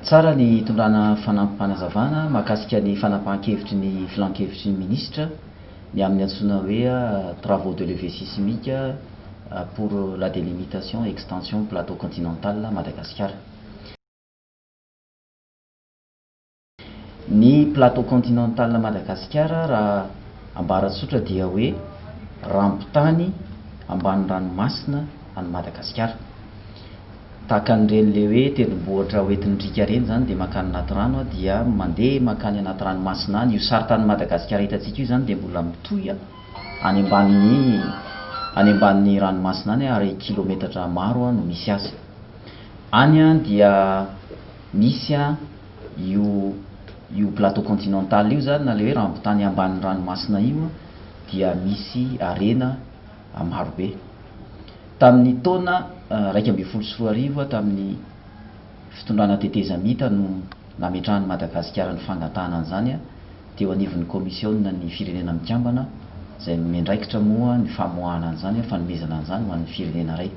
Tsara ny hitondrana fanampim-panazavana mahakasika ny fanapahan-kevitry ny Filan-kevitry ny Minisitra ny amin'ny antsoina hoe Travaux de levée sismique pour la délimitation et extension plateau continental Madagasikara. Ny plateau continental Madagasikara raha ambara tsotra dia hoe rambon-tany ambany ranomasina any Madagasikara. Tahaka an'ireny le hoe tendrombohitra hoentin'ny riaka ireny izany dia mankany anaty rano dia mandeha mankany anaty ranomasina any. Io saritanin'i Madagasikara hitantsika io izany dia mbola mitohy any ambanin'ny any ambanin'ny ranomasina any ary kilometatra maro no misy azy. Any dia misy Io io plateau continental io zany na le hoe rambotany ambanin'ny ranomasina io dia misy harena maro be. Tamin'ny taona iraika ambin'ny folo sy roa arivo tamin'ny fitondrana tetezamita no nametrahan'i Madagasikara ny fangatahana an'izany teo anivon'ny Kaomisiona ny Firenena Mikambana izay miandraikitra moa ny famoahana an'izany, fanomezana an'izany ho an'ny firenena iray.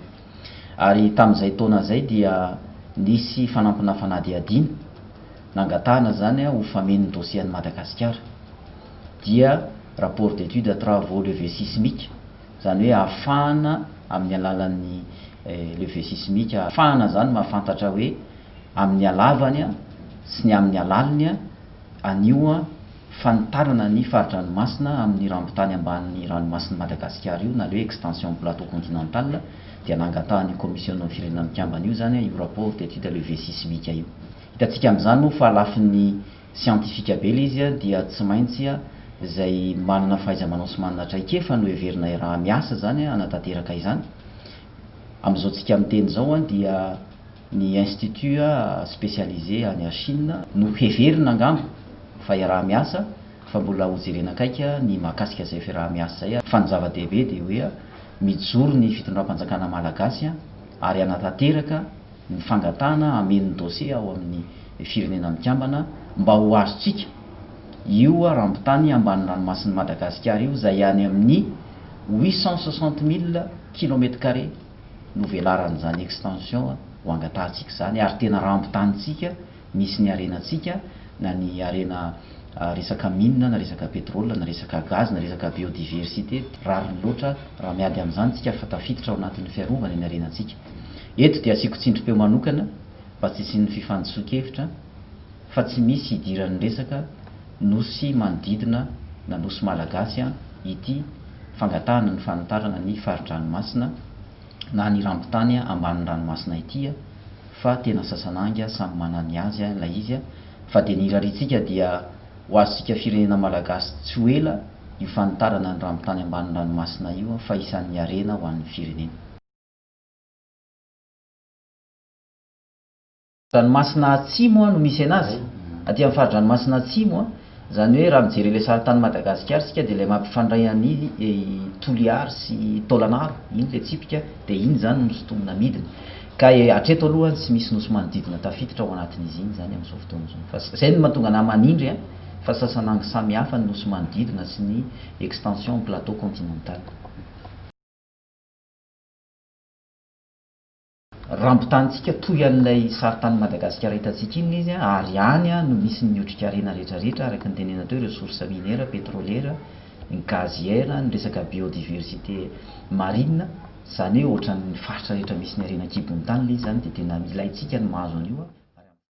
Ary tamin'izay taona izay dia nisy fanampina fanadihadiana, nangatahana izany ho fameno ny dosie an'i Madagasikara. Dia rapport d'étude travaux levée sismique, izany hoe afahana amin'ny alalan'ny levée sismique, afahana izany mahafantatra hoe amin'ny halavany sy ny amin'ny halaliny anio, fanitarana ny fari-dranomasina amin' ny rambon-tany ambanin' ny Ranomasin' i Madagasikara io na le Extension Plateau Continental dia nangatahan' io Kaomisiôna Firenena Mikambana io izany io Rapport d' étude le V sismique io. Hitantsika amin' izany moa fa lafin' ny siantifika be ilay izy dia tsy maintsy izay manana fahaiza-manao sy manana traikefa no heverina iaraha-miasa izany hanatanteraka izany. Amin' izao tsika miteny izao dia. Ny Institut spécialisé any Chine no heverina angamba fa iaraha-miasa fa mbola hojerena akaiky ny mahakasika izay fiaraha-miasa izay fa ny zava-dehibe dia hoe mijoro ny fitondram-panjakana malagasy ary hanatanteraka ny fangatahana hameno ny dosie ao amin'ny Firenena Mikambana mba ho azontsika io rambon-tany ambany ranomasin'i Madagasikara io izay any amin'ny huit cent soixante mille kilomètre carré novelaran'izany extension ho angatahantsika izany ary tena rambon-tanintsika misy ny harenantsika na ny harena resaka mine na resaka pétrole na resaka gaz na resaka biodiversité rariny loatra raha miady amin'izany tsika fa tafiditra ao anatin'ny fiarovana ny harenantsika eto dia asiako tsindrim-peo manokana mba tsy hisian'ny fifandisokevitra fa tsy misy hidiran'ny resaka Nosy manodidina na Nosy Malagasy ity fangatahana ny fanitarana ny fari-dranomasina na ny rambon-tany ambanin'ny ranomasina ity fa tena sasan'anga samy manana ny azy ilay izy fa dia ny irariantsika dia ho azontsika firenena Malagasy tsy ho ela io fanitarana ny rambon-tany ambanin'ny ranomasina io fa isan'ny harena ho an'ny firenena. Ranomasina Atsimo an no misy anazy, aty amin'ny fari-dranomasina Atsimo an, izany hoe raha mijery ilay sarin-tanin'i Madagasikara isika dia ilay mampifandray an'i Toliary sy Taolagnaro iny ilay tsipika dia iny izany no nosy tonina midina ka hatreto aloha tsy misy nosy manodidina tafiditra ao anatin'izy iny izany amin'izao fotoana izao fa izay no mahatonga anah manindry an fa sasan'angy samy hafa ny nosy manodidina sy ny extension amin'ny plateau continental. Rambotanintsika toy an'ilay saritanin'i Madagasikara hitantsika iny ilay izy ary any no misy ny otrikarena rehetrarehetra araka ny tenenina teo, ireo source minière, pétrolière, ny gazière, ny resaka biodiversité marine, izany hoe ohatran'ny faritra rehetra misy ny harena an-kibon'ny tany ilay izy izany dia tena ilaintsika ny mahazo an'io.